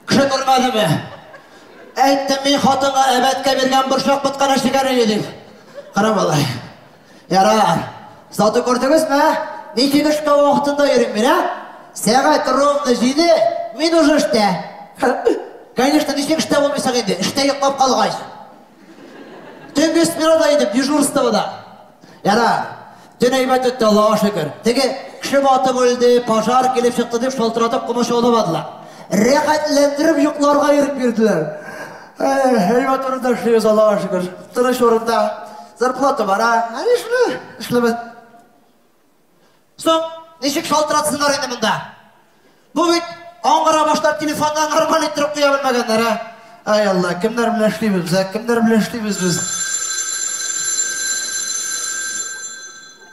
Кеше күрмәде ме? Әйттем мин хатынга әбәткә биргән борчак ботканы шикәре едик. Кара малай. Ярар. Заты күрдегезме? Мин килешкә вакытында йөрим мин, а? Сәгать ровно җиде, мин уже эштә. Конечно, ничек эштә булмыйсың инде, эштә йоклап калгач. Төнге сменада идем, дежурствода. Яра, төн әйбәт үтте, Аллага шөкер. Теге кеше батып үлде, пожар килеп чыкты дип шалтыратып комачауламадылар. Рәхәтләндереп йокларга ирек бирделәр. Әйбәт урында эшлибез, Аллага шөкер. Тыныч урында. Зарплата бара. Ә нишле? Эшлибез. Соң, ничек шалтыратсыннар инде монда? Бу бит аңгыра башлар телефонда нормаль иттереп куя белмәгәннәр, ә? Ай Алла, кемнәр белән эшлибез без, ә? Кемнәр белән эшлибез без?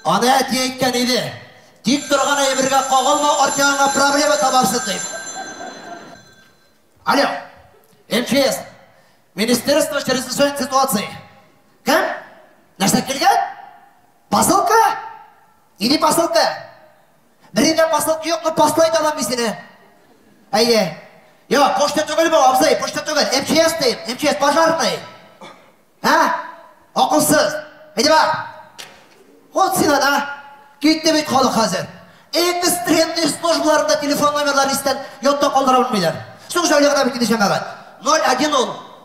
Аны әти әйткән иде. Тик торган әйбергә кагылма, артыңа проблема табарсың дип. Алло, МЧС, Министерство чрезвычайных ситуаций. Кем? Нәрсә килгән? Посылка? Иди посылка. Берендә посылка юк, но посла итә аламын сине. Әйе. Йо, почта түгел бу, абзый, почта түгел. МЧС дим, МЧС пожарный. Ә? Акылсыз. Иди бар. Вот син ана. Китте бит халык хәзер. Экстренный службаларында телефон номерларын истән йотта калдыра белмиләр. Соң җәүләгә бит китә җәмәгать. 01 ул.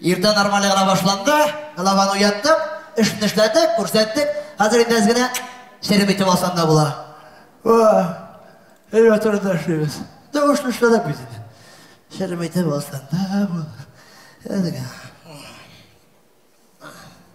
Иртә нормале гына башланды, главаны уяттык, эшне эшләдек, күрсәттек, хәзер инде әз генә серем итеп алсаң да була. Өйгә турында эшлибез. Дә эшне эшләдек бит инде. Серем итеп алсаң да була. Әз генә.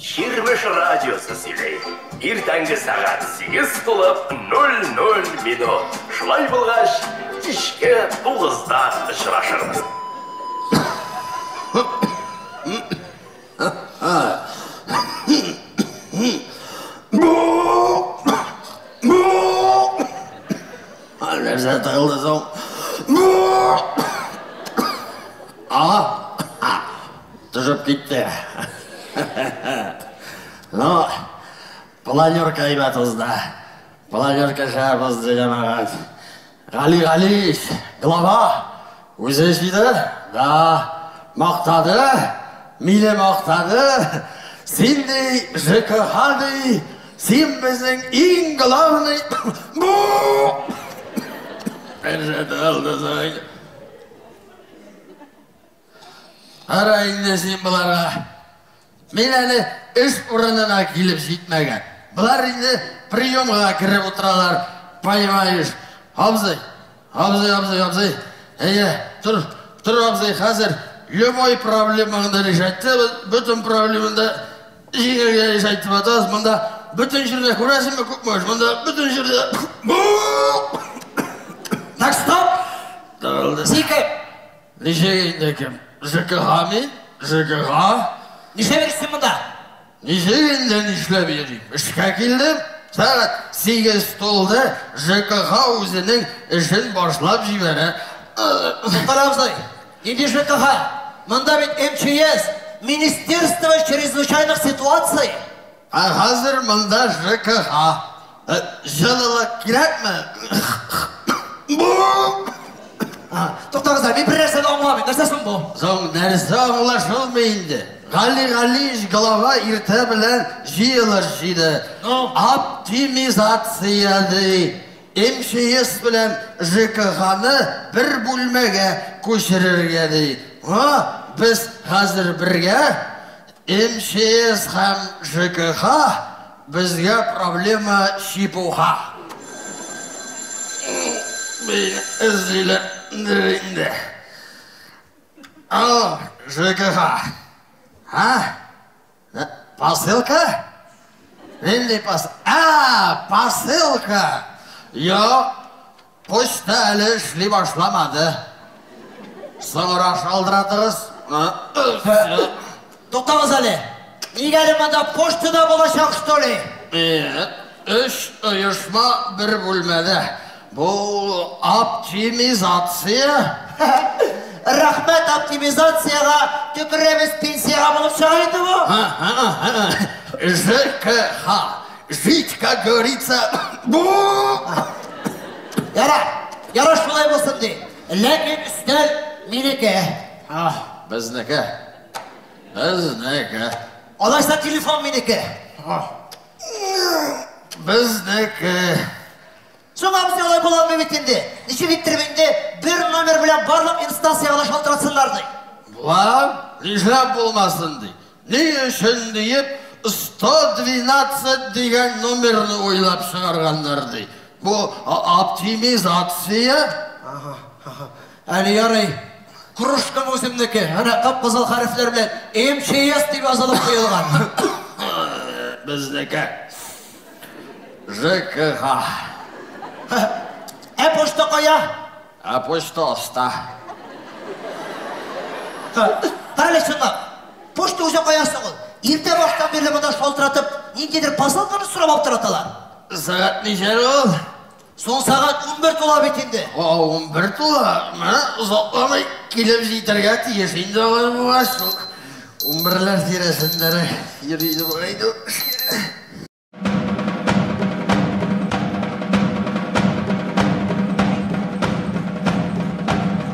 Чирмеш радиосы сөйли. Иртәнге сәгать сигез тулып нуль нуль минут. Шулай булгач, кичке тугызда очрашырбыз. Нәрсә тыгылды соң? Ага. Төшеп китте. Ну, планерка әйбәт узды. Планерка шәп узды, җәмәгать. Гали Галиевич, глава, үзе җыйды, да, мактады, мине мактады. Син ди, ЖКХ ди, син безнең иң главный бу! Бер җәдәл дизайн. Кара инде син боларга. Мин әле эш урынына килеп җитмәгән. Болар инде приемга кереп утыралар, понимаешь. Абзый, абзый, абзый, абзый. Әйе, тор, тор, абзый, хәзер любой проблемаңды решать итәбез, бөтен проблемаңды җиңәргә решать итеп атабыз. Монда бөтен җирдә күрәсеңме, күкмәш, монда бөтен җирдә... Так, стоп! Сикер! Ничек инде кем? ЖКХами? ЖКХ? Нишләп йөрисең монда? Ничек инде нишләп йөрим? Эшкә килдем. Сәгать сигез тулды, ЖКХ үзенең эшен башлап җибәрә. Мохтар абзый, нинди ЖКХ? Монда бит МЧС, Министерство чрезвычайных ситуаций. Ә хәзер монда ЖКХ. Җылылык кирәкме? Туктагыз әле, мин бер нәрсә дә аңламыйм, нәрсә соң бу? Соң нәрсә аңлашылмый инде? Гали Галиевич глава иртә белән җыелыш җыйды. Оптимизация ди. МЧС белән ЖКХны бер бүлмәгә күчерергә ди. Га, без хәзер бергә. МЧС һәм ЖКХ безгә проблема чепуха бәйне эзлиләрдер инде. Алло, ЖКХ, ә? Посылка? Нинди посылка? А, посылка! Юк, Почта әле эшли башламады. Соңрак шалдыратырыз. Туктагыз әле. Нигә әле монда почтада булачак, что ли? Өч оешма бер бүлмәдә. Бу оптимизация. Рәхмәт оптимизациягә төкерәбез пенсиягә булып чыга инде бу. ЖКХ. Жить, как говорится, Яра, яра шулай булсын ди. Ләкин өстәл минеке. А, безнеке. Безнеке. Алайса телефон минеке. Безнеке. Соң абзый алай була алмый бит инде. Ничек иттереп инде бер номер белән барлык инстанциягә дә шалтыратсыннар ди. Була, нишләп булмасын ди. Ни өчен диеп 112 дигән номерны уйлап чыгарганнар ди. Бу оптимизация. Ага, ага. Әле ярый. Кружкам үземнеке. Әнә кып-кызыл хәрефләр белән МЧС дип язылып куелган. Безнеке. ЖКХ. Ә почта кая? Ә почта аста. Әле шунда. Почта үзе кая соң ул? Иртә баштан бирле монда шалтыратып, ниндидер посылканы сорап аптыраталар. Сәгать ничә ул? Соң сәгать унбер тула бит инде. Ха, унбер тула. Мә, озакламый килеп җитәргә тиеш инде алай булгач. Шул унберләр тирәсендәрәк йөри иде бугай инде ул.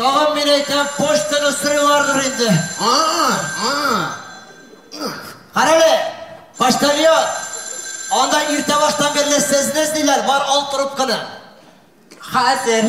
Тагын мин әйтәм, почтаны сырыйлардыр инде. А, а. Карале, почтальон. Анда иртә баштан бирле сезне эзлиләр, бар ал трубканы. Хәзер.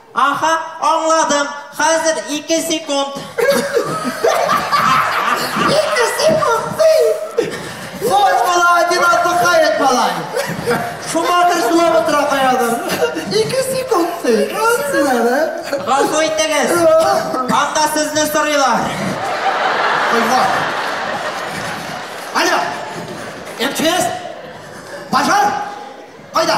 Аха, аңладым, хәзер ике секунд. Ике секунд ди! Зур була, один отдыхает малай. Шума кер сулап утыра каядыр. Ике секунд ди! Рас син әле? Газу итегез. Анда сезне сорыйлар. Айва. Алло! МЧС? Пожар? Кайда?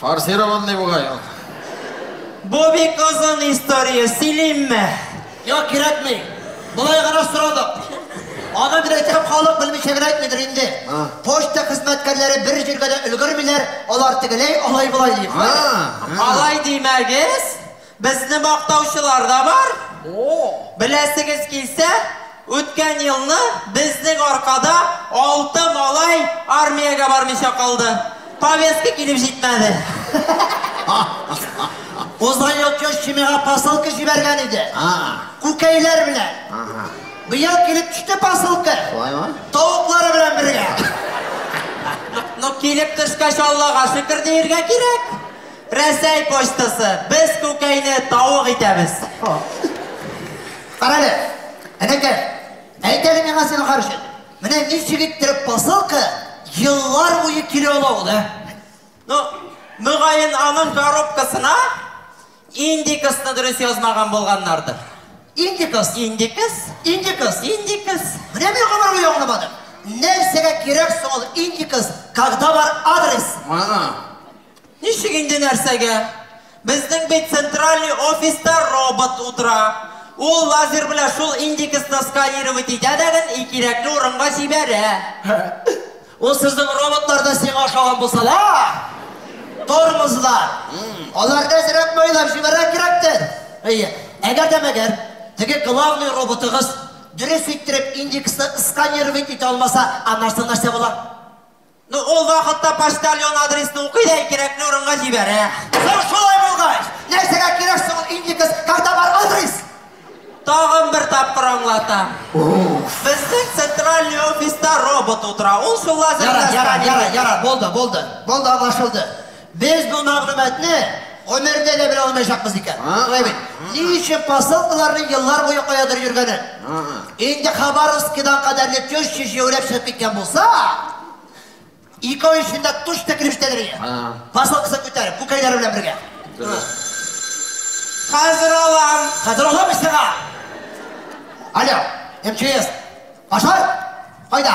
Форсированный бугай ул. Бу бик озын история, сөйлимме? Юк, кирәкми. Болай гына сорадык. Аны дөресәп халык белмичә генә әйтмидер инде. Почта хезмәткәрләре бер җиргә дә өлгермиләр, алар тегеләй алай болай дип. Алай димәгез, Безне мактаучылар да бар. Беләсегез килсә, үткән елны безнең аркада алты малай армиягә бармыйча калды. Повестка килеп җитмәде. Узган ел Теща миңа посылка җибәргән иде. Күкәйләр белән. Быел килеп төште посылка. Тавыклары белән бергә. Ну, килеп төшкәч, Аллага шөкер диергә кирәк. Рәсәй почтасы, без күкәйне тавык итәбез. Карале, энекәш, әйт әле миңа син ахар өчен, менә ничек иттереп посылка еллар буе килә ала ул, ә? Ну, мөгаен, аның коробкасына индикасны дөрес язмаган булганнардыр. Индикас? Индикас? Индикас? Индикас? Менә мин гомер буе аңламадым. Нәрсәгә кирәк соң ул индикас, когда бар адрес? Ана, Ничек инде нәрсәгә? Безнең бит центральный офиста робот утыра. Ул лазер белән шул индексны сканировать итә дә гел и кирәкле урынга җибәрә. Һе, ул сезнең роботлар да сиңа ошаган булсалар! Тормозлар! Алар да әзрәк майлап җибәрә кирәктер. Әйе, әгәр дә мәгәр теге главный роботыгыз дөрес иттереп индексны сканировать итә алмаса, аннары соң нәрсә була? Ну, ул вакытта почтальон адресны укый да и кирәкле урынга җибәрә. Соң шулай булгач, нәрсәгә кирәк соң ул индекс, когда бар адрес? Тагын бер тапкыр аңлатам. Безнең центральный офиста робот утыра, ул шул лазер белән Ярар, ярар, сканер ярар, ярар, булды, булды. Булды, аңлашылды. Без бу мәгълүматны гомердә дә белә алмаячакбыз икән. Гыйбин, ни өчен посылкаларның еллар буе каядыр йөргәнен. Инде Хабаровскидан кадәрле теща җәяүләп чыгып киткән булса, ике ай эчендә тучта килеп җитәдер иде. Посылкасын күтәреп, күкәйләре белән бергә. Дөрес. Хәзер алам. Хәзер алам мин сиңа! Алло, МЧС. Башар? Кайда?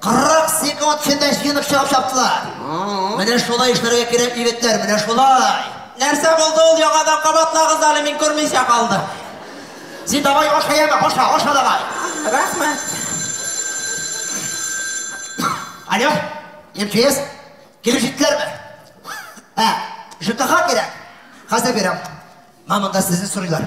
40 секунд эчендә җыенып чыгып чаптылар. Менә шулай эшләргә кирәк, егетләр, менә шулай. Нәрсә булды ул, яңадан кабатлагыз әле, мин күрмичә калдым. Син давай аша яме, аша, аша давай. Рәхмәт. Алло, МЧС, килеп җиттеләрме? Ә, ЖКХ кирәк? Хәзер бирәм. Мә, монда сезне сорыйлар.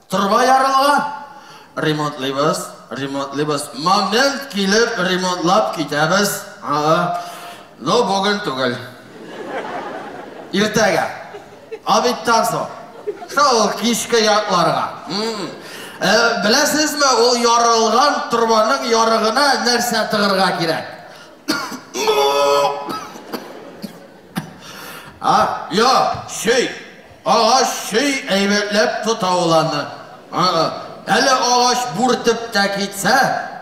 Торба ярылган. Ремонтлыйбыз, ремонтлыйбыз. Момент килеп ремонтлап китәбез. Ага. Но бүген түгел. Иртәгә. Обедтан соң. Шул кичке якларга. Э, беләсезме, ул ярылган торбаның ярыгына нәрсә тыгырга кирәк? А, юк, чөй. Агач чөй әйбәтләп тота ул аны. Ы-ы. Әле агач бүртеп тә китсә,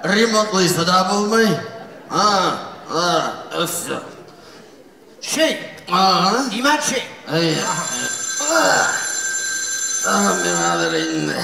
ремонтлыйсы да булмый. Ы-ы. Өф-ф. Чөй. Ага. Димәк, чөй. Әйе. Ах, мин хәзер инде.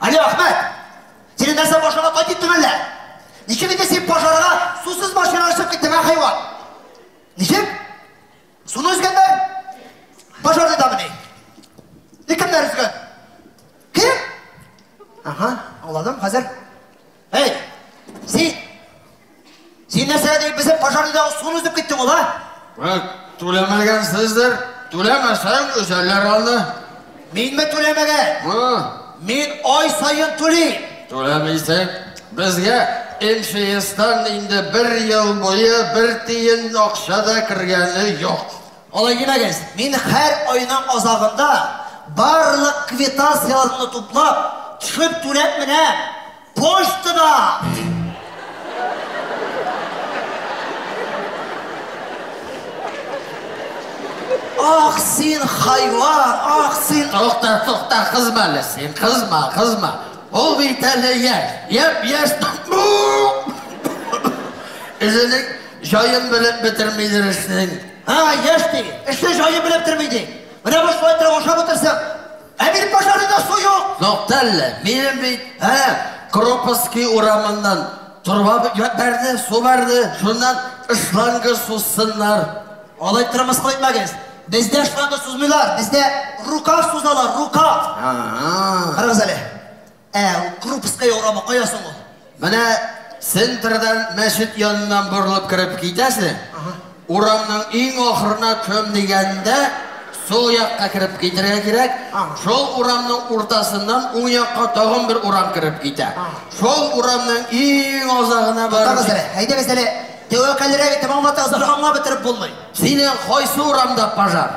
Али Ахмәт, сине нәрсә пожарга тай диттең әллә? Ничек инде син пожарга сусыз машина ашып киттең, ә хайван? Ничек? Суны өзгәннәр? Пожарны да мени? Ник кемнәр өзгән? Кем? Ага, аңладым, хәзер. Әй, син, син нәрсәгә дип безнең пожарныйдагы суны өзеп киттең ул, а? Вәк, түләмәгәнсездер. Түләмәсәң, өзәлләр аны. Минме түләмәгән? Ы. Мин ай саен түлим. Түләмисең. Безгә МЧСтан инде бер ел буе бер тиен акча да кергәне юк. Алай димәгез, мин һәр айның азагында барлык квитанцияләрне туплап, төшеп түләп менә почтада! Ах, син хайван, ах, син... Тукта, тукта, кызма әле син, кызма, кызма. Ул бит әле яшь, яп-яшь... Үзенең Җаен белеп бетермидер эшнең. Һа, яшь ди, эшне җаен белеп бетерми ди. Менә бу шулай торып ашап утырсаң, ә минем пожарныйда су юк. Тукта әллә, минем бит, ә, Кропоский урамыннан торба бәрде, су бәрде, шуннан шланга сузсыннар. Алай торып мыскыл итмәгез. Бездә шланга сузмыйлар, бездә рукав сузалар, рукав. А-а. Карагыз әле. Ә ул Крупская урамы кая соң ул? Менә центрдан мәчет яныннан борылып кереп китәсең. Урамның иң ахырына кем дигәндә, сул якка кереп китергә кирәк. Шул урамның уртасыннан уң якка тагын бер урам кереп китә. Шул урамның иң азагына барып... Туктагыз әле, әйдәгез әле, тәвәккәллерәк итеп аңлатыгыз, бер аңлап бетереп булмый. Синең кайсы урамда пожар?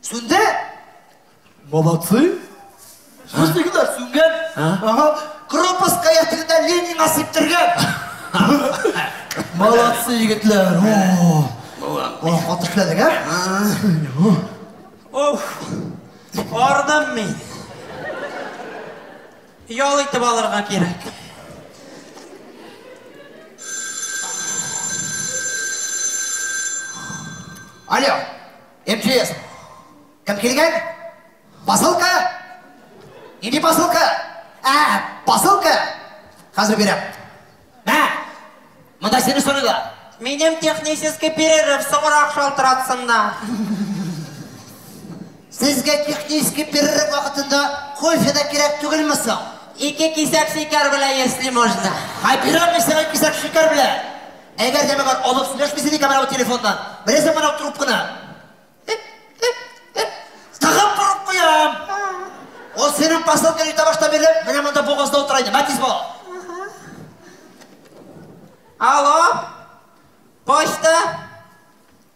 Сүнде? Молодцы! Сүз ни генә сүнгән? Ага, Кропоска ятырда Ленин асып тергән! Молодцы, егетләр! О, хаты эшләдек, ә? Уф! Ардым мин! Ял итеп алырга кирәк. Алло! МЧС. Кем килгән? Посылка? Нинди посылка? Ә, посылка! Хәзер бирәм. Мә! Монда сине сорыйлар. Минем технический перерыв соңрак шалтыратсыннар. Сезгә технический перерыв вакытында кофе да кирәк түгелме соң? Ике кисәк шикәр белән, если можно. Хәбирам, мин сиңа кисәк шикәр белән. Әгәр дә миңа алып сөйләшмисең икән менә бу телефоннан, беләсең менә бу трубканы? Эп-эп-эп. Тагын борып куям. Ул синең посылкаң иртә башта бирле, менә монда бугазда утыра иде. Мә тиз бул. Алло, почта.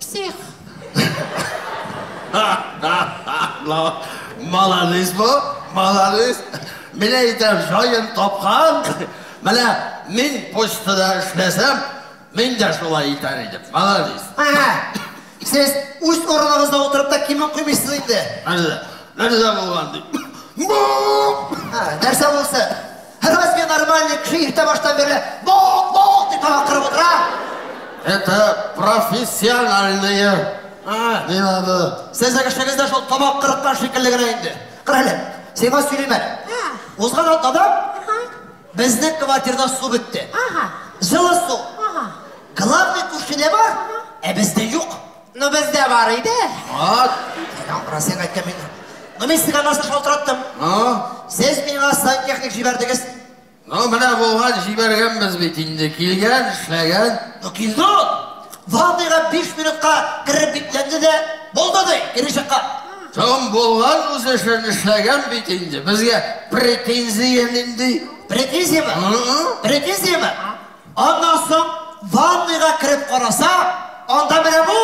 Псих. Молодец бу, молодец. Менә әйтә җаен тапкан. Менә мин почтада эшләсәм, мин дә шулай итәр идем. Молодец. Сез үз урыныгызда утырып та кимеп куймыйсыз инде. Нәрсә? Нәрсә булган ди? Нәрсә булсын? Разве нормальный кеше иртә баштан бирле бок, бок дип тагын кырып утыра? Это профессиональные. А, Мин аны сезнең эшегез дә шул тамак кырыткан шикелле генә инде. Кара әле, сиңа сөйлим әле. А. Узган атнада Ага. безнең квартирада су бетте. Ага. Җылы су. Ага. Главный күршедә бар, ә бездә юк. Ну бездә бар иде. Вот. Синең Россиягә әйткән мин. Ну мин сиңа нәрсә шалтыраттым? Ну? Сез миңа сантехник җибәрдегез. Ну менә булган җибәргәнбез бит инде, килгән, эшләгән. Ну килде ул. Ванныйга биш минутка кереп бикләнде дә, булды ди, кире чыккан. Тым булган үз эшен эшләгән бит инде. Безгә претензия нинди? Претензиямы? Претензиямы? Аннан соң ванныйга кереп караса, анда менә бу!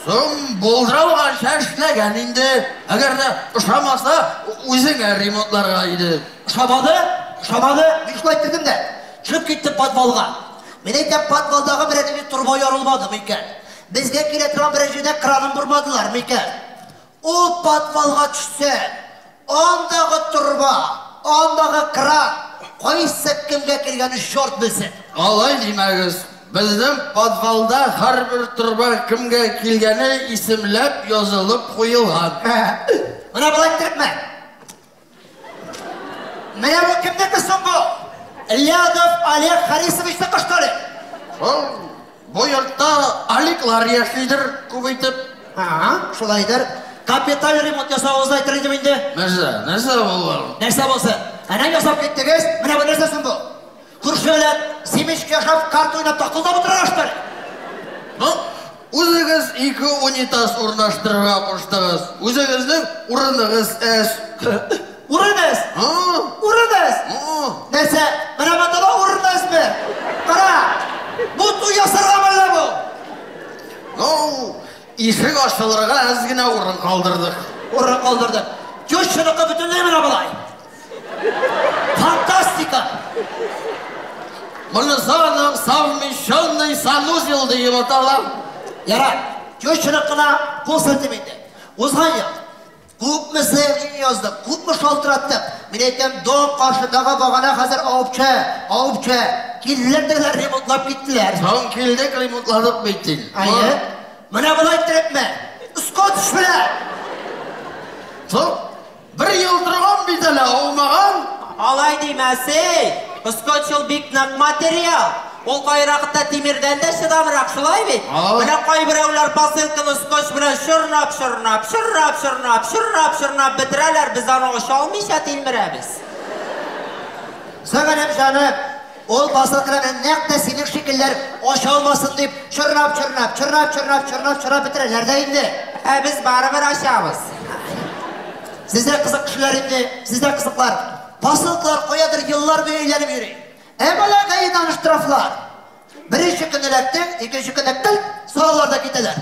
Соң булдырауганча эшләгән инде. Әгәр дә ошамаса, үзеңә ремонтларга иде. Ошамады, ошамады, мин шулай кердем дә, төшеп киттем подвалга. Мин әйтәм, подвалдагы берәр җирдә торба ярылмадымы икән? Безгә килә торган берәр җирдә кранын бормадылармы икән? Ул подвалга төшсә, андагы торба, андагы кран кайсы кемгә кергәнен чорт белсен! Алай димәгез, безнең подвалда һәрбер торба кемгә килгәне исемләп язылып куелган. Менә болай итәкме? Менә бу кемнеке соң бу? Лядов Олег Харисовичны кыштыры. Шул бу йортта Аликлар яшидер күп итеп. Ага, шулайдыр. Капиталь ремонт ясавыгызны әйтер идем инде. Нәрсә, нәрсә булган? Нәрсә булсын? Әнә ясап киттегез, менә бу нәрсә соң бу? Күршеләр семечка һәм карта уйнап такылдап утыралаштыр. Ну, үзегез ике унитаз урнаштырырга куштыгыз. Үзегезнең урыныгыз әз. Урын әз? Урын әз? Нәрсә, менә монда да урын әзме? Кара, бут уй ясарга мәллә бу? Ну, ишек ачылырга әз генә урын калдырдык. Урын калдырдык. Тещаныкы бөтенләй менә болай. Фантастика! Моны зоның совмещенный санузел диеп атала. Ярар, кешерек кына кул селтим инде. Узган ел күпме сәяхи яздык, күпме шалтыраттык. Мин әйтәм, дом каршыдагы багана хәзер авыпча, авыпча. Килделәр дәләр, ремонтлап киттеләр. Соң килдек, ремонтладык бит син. Әйе. Менә болай иттерепме? Скотч белән! Соң Бер ел торган бит әле, аумаган. Алай димә, сей! Скотч ул бик нык материал. Ул кайракыта тимердән дә чыдамрак, шулай бит? Менә кайберәүләр посылканы скотч белән чорнап-чорнап, чорнап-чорнап, чорнап-чорнап бетерәләр, без аны ача алмыйча тилмерәбез. Сәгадәт җаным! Ул посылкаларны нәкъ тә синең шикелләр ача алмасын дип, чорнап-чорнап, чорнап-чорнап, чорнап-чорнап бетерәләр дә инде. Ә без барыбер ачабыз. Сез дә кызык кешеләр инде, сез дә кызыклар. Посылкалар каядыр еллар буе әйләнеп йөри. Ә малагаедан штрафлар. Беренче көн эләктең, икенче көнне пелт, салалар да китәләр.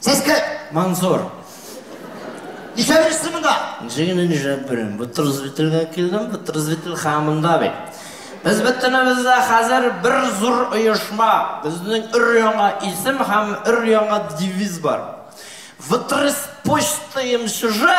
Сез кем? Мансур. Ничә берсе монда? Ничә генә ничә берем? Бу трзвителгә килдем, бу трзвител хамында бит. Без бөтенебездә хәзер бер зур оешма. Безнең өр яңа исем һәм өр яңа девиз бар. Втрис почта им чужа.